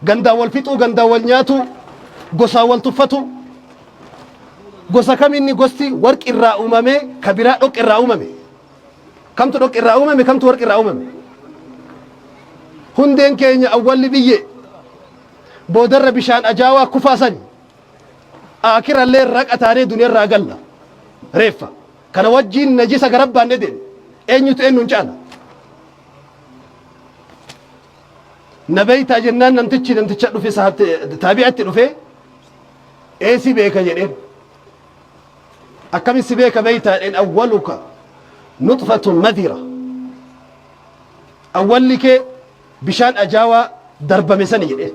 Gandaan wal fixuu, gandaan wal nyaatuu, gosaan wal tuffatuu. Gosa kam inni gosti warqi irraa uumamee ka biraa dhoqqee irraa uumame? Kamtu dhoqqee irraa uumame kamtu warqi irraa uumame? Hundeen keenya awwalli biyyee boodarra bishaan ajaawaa kufaa sani. Aakirallee raqa taanee duniyarraa galla. Reeffa. Kana wajjiin najisa garabbaan dedeeme. Eenyutu eenyuun caala? Na beektaa jennaan namtichi namticha dhufe sahaabti taabi'atti dhufe ee si beeka jedheen. Akkami si beeka beektaa jedheen awwaluka nuxfatun madira. Awwalli kee bishaan ajaawaa darbame sani jedheen.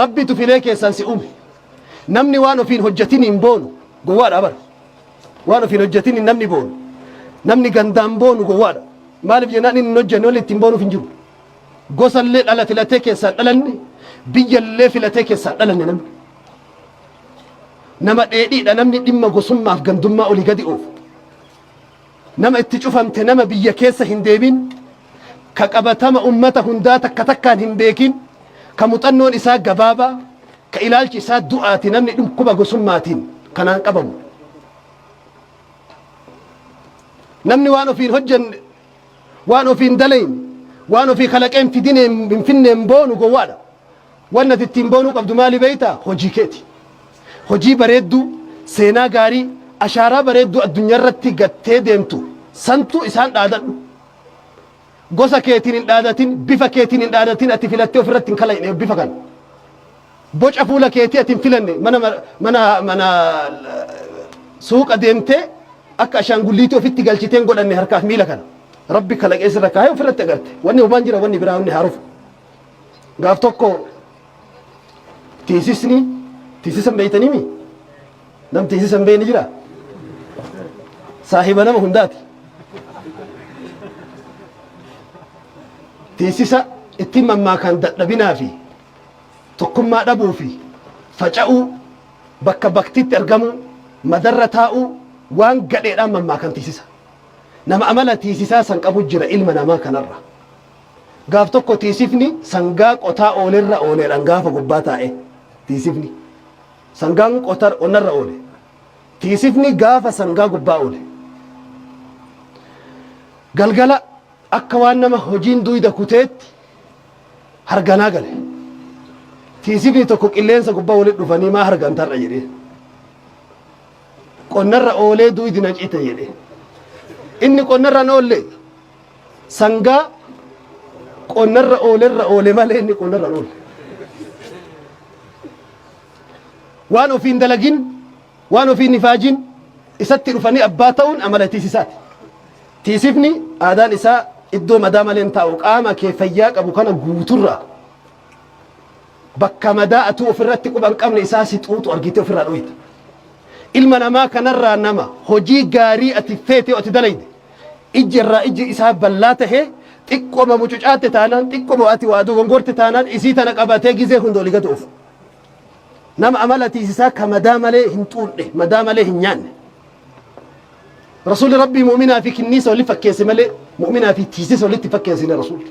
Rabbitu filee keessaan si uume. Namni waan ofiin hojjetin hin boonu gowwaadha bara. Waan ofiin hojjetin hin namni boonu. Namni gandaan boonu gowwaadha. Maaliif jennaan inni hin hojjenne walitti ittiin boonuuf hin jiru. Gosallee dhala filatee keessaan dhalanne biyyallee filatee keessaan dhalanne namni. Nama dheedhiidha namni dhimma gosummaaf gandummaa olii gadi oofu. Nama itti cufamte nama biyya keessa hin deemin, ka qabatama ummata hundaa takka takkaan hin beekin, ka muxannoon isaa gabaabaa, ka ilaalchi isaa du'aati namni dhukkuba gosummaatiin kanaan qabamu. Namni waan ofii hin hojjanne, waan ofii hin dalayne, waan ofii kalaqee hin fidinee hin finneen boonu gowwaadha. Wanni ati ittiin boonuu qabdu maali beektaa? Hojii keeti. Hojii bareedduu, seenaa gaarii, ashaaraa bareedduu addunyaa irratti gattee deemtu santu isaan dhaadadhu. Gosa keetiin hin dhaadatin, bifa keetiin hin dhaadatin, ati filattee of irratti hin kalayne bifa kana. Boca fuula keetii ati hin filanne mana ma- mana mana suuqa deemtee akka ashaangulliitii ofitti galchitee hin godhanne harkaaf miila kana. Rabbi kalaqee sirra kaa'ee of irratti agarte. Wanni homaan jira wanni biraa wanni haaruuf. Gaaf tokko teessisni teessisa hin beektaniimi? Nam teessisa hin beekne jira? Saahiba nama hundaati. Teessisa ittiin mammaakaan dadhabinaa fi tokkummaa dhabuu fi faca'uu bakka baktiitti argamuu madarra taa'uu waan gadheedhaan mammaakan teessisa. Nama amala teessisaa san qabu jira ilma namaa kanarra. Gaaf tokko tiisifni sangaa qotaa oolerra ooleedhaan gaafa gubbaa taa'e tiisifni sangaan qotar qonnarra oole tiisifni gaafa sangaa gubbaa oole galgala akka waan nama hojiin duyda kuteetti harganaa gale tiisifni tokko qilleensa gubbaa walitti dhufanii maa hargantarra jedhee qonnarra oolee duydi na cite jedhee inni qonnarra na oollee Sangaa qonnarra oolerra oole malee inni qonnarra hin oolle. Waan ofiin dalagin, waan ofiin ifaajin isatti dhufanii abbaa ta'uun amala tiisisaati. Tiisifni aadaan isaa iddoo madaa malee hin taa'u. Qaama kee fayyaa qabu kana guuturraa. Bakka madaa atuu ofirratti quba hin qabne isaa si xuuxu argitee ofirraa dhooyta. Ilma namaa kanarraa nama hojii gaarii ati feetee ati dalayde ijji irraa ijji isaa ballaa tahee xiqqoma mucucaatte taanaan xiqqoma ati waa dogongorte taanaan isii tana qabatee gizee hunda oli gad oofu. Nama amala tiisisaa ka madaa malee hin xuuxne madaa malee hin nyaanne. Rasuulli Rabbii mu'minaa fi kinniisa walitti fakkeesse malee mu'minaa fi tiisisa walitti fakkeessine Rasuulli.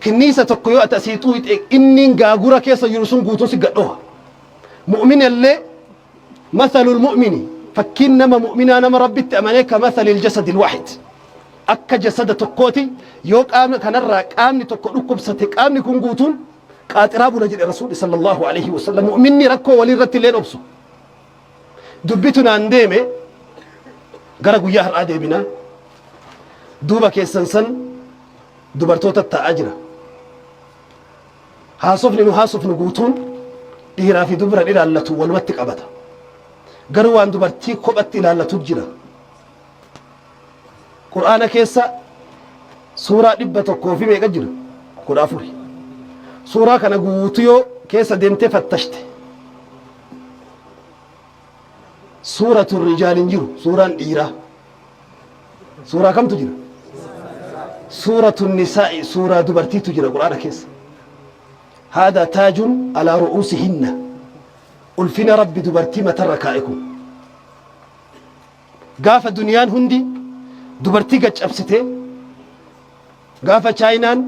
Kinniisa tokko yoo ati asii xuuxee inniin gaagura keessa jiru sun guutuun si gadhoha. Mu'minallee masalul mu'mini fakkiin nama mu'minaa nama rabbitti amanee ka masalil jasadil waahid. Akka jasada tokkooti yoo qaama kanarraa qaamni tokko dhukkubsate qaamni kun guutuun qaaxiraa bula jedhe rasuulli sallallahu alaihi wasallam mu'minni rakkoo walii irratti illee obsu. Dubbitu naan deeme gara guyyaa har'aa deebinaa duuba keessan san dubartoota taa'aa jira. Haasofni nu haasofnu guutuun dhiiraa fi dubran ilaallatu walumatti qabata. Garuu waan dubartii kophatti ilaallatu jira. Qur'aana keessa suuraa dhibba tokkoo fi meeqa jira? Kudha afuri. Suuraa kana guutuu yoo keessa deemtee fattashte Suuratu rijaal hin jiru. Suuraan dhiiraa. Suuraa kamtu jira? Suuratu nisaa'i suuraa dubartiitu jira Qur'aana keessa. Haadaa taajun alaa ru'uusi hinna. Ulfina Rabbi dubartii matarra kaa'e kun. Gaafa duniyaan hundi dubartii gad cabsitee gaafa chaayinaan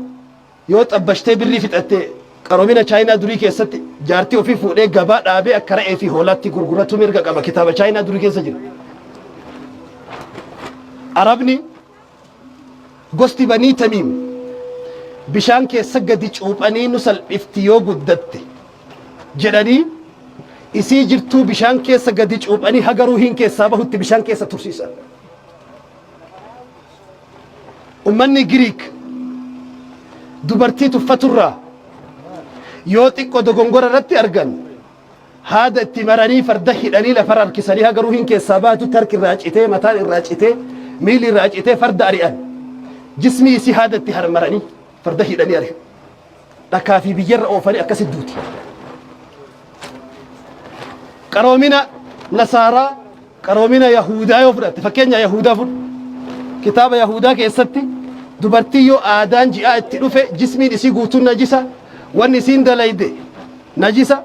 Yoo xabbashtee birrii fixatte qaroomina Chaayinaa durii keessatti jaartii ofii fuudhee gabaa dhaabee akka ra'ee fi hoolaatti gurguratu mirga qaba kitaaba Chaayinaa durii keessa jira. Arabni gosti banii tamiim bishaan keessa gadi cuuphanii nu salphifti yoo guddatte jedhanii isii jirtuu bishaan keessa gadi cuuphanii haga ruuhiin keessaa bahutti bishaan keessa tursiisan. Ummanni Giriik dubartii tuffaturraa yoo xiqqo dogongora irratti argan haada itti maranii farda hidhanii lafarra harkisanii haga ruhiin keessaa baatutti harki irraa citee mataan irraa citee miilli irraa citee farda ari'an jismii isii haada itti harmaranii farda hidhanii ari'an. Dhakaa fi biyyarra oofanii akkasi duuti. Qaroomina Nasaaraa, qaroomina Yahuudaa yoo fudhatte, fakkeenya Yahuudaa fudhu. Kitaaba Yahuudaa keessatti dubartii yoo aadaan ji'aa itti dhufe jismiin isii guutuun najisa, wanni isiin dalayde najisa,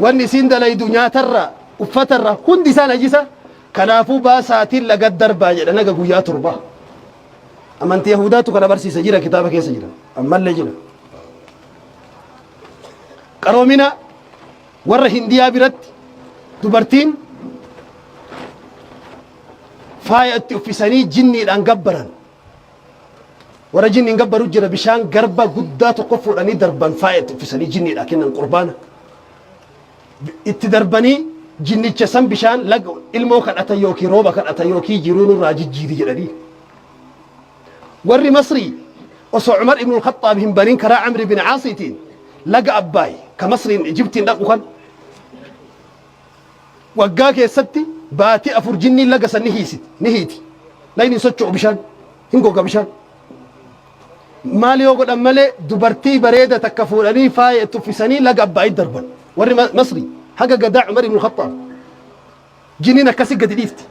wanni isiin dalaydu nyaatarraa, uffatarraa hundi isaa najisa. Kanaafuu baasaatiin laga darbaa jedha naga guyyaa torbaa. Amantii Yahudaatu kana barsiisa jira kitaaba keessa jira. Ammallee jira. Qaroomina warra Hindiyaa biratti dubartiin faaya itti uffisanii jinniidhaan gabbaran. Warra jinniin gabbaru jira bishaan garba guddaa tokko fuudhanii darban faaya itti uffisanii jinniidhaan kennan qurbaana. Itti darbanii jinnicha san bishaan laga ilmoo kadhatan yookiin rooba kadhatan yookiin jiruu nurraa jijjiiri jedhanii. Warri Masrii osoo Umar ibn al-Khaxxaab hin banin karaa Amr ibn Caasiitiin laga Abbaay ka Masriin Ijibtiin dhaqu kan waggaa keessatti baatii afur jinniin laga san ni hiisiti ni hiiti lagni hin socho'u bishaan hin goga bishaan Maal yoo godhan malee dubartii bareeda takka fuudhanii faaya itti uffisanii laga Abbaayitti darban. Warri Ma- Masri haga gadaa Umar ibn Khattaab jiniin akkasi gadi dhiifti.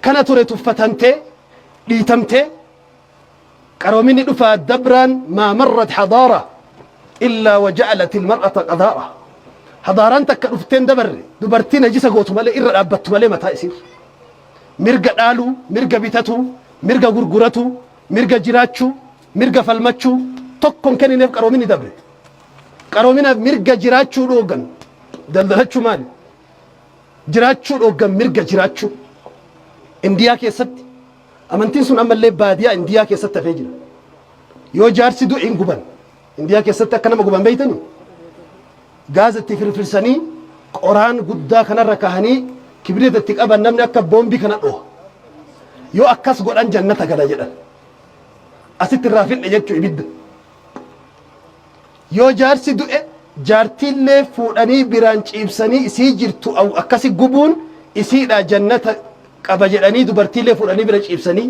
Kana ture tuffatamtee dhiitamtee qaroominni dhufaa dabraan maa marrat hadaara illaa waja'alat ilmar'ata qadaara. Hadaaraan takka dhufteen dabarre dubartii najisa gootu malee irra dhaabbattu malee mataa isiirra. mirga dhaaluu, mirga bitatuu, mirga gurguratuu, mirga jiraachuu, mirga falmachuu tokko hin kennineef qaroominni dabre. Qaroominaaf mirga jiraachuu dhooggan. Daldalachuu maali? Jiraachuu dhooggan mirga jiraachuu. Indiyaa keessatti amantiin sun ammallee baadiyaa Indiyaa keessatti hafee jira. Yoo jaarsi du'e hin guban. Indiyaa keessatti akka nama guban beektanii? Gaaza itti firfirsanii qoraan guddaa kanarra kaahanii kibirita itti qaban namni akka boombii kana dhoha. Yoo akkas godhan jannata gala jedhan. Asitti irraa finne jechuu ibidda. Yoo jaarsi du'e jaartiillee fuudhanii biraan ciibsanii isii jirtu akkasi gubuun isiidhaa jannata qaba jedhanii dubartiillee fuudhanii bira ciibsanii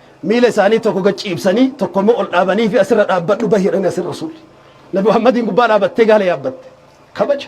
Miila isaanii tokko gad ciibsanii, tokko immoo ol dhaabaniifii as irra dhaabbadhu bahi jedhanii as irra Rasuulli. Nabi Muhammadiin gubbaa dhaabattee gaala yaabbatte. Kabaja.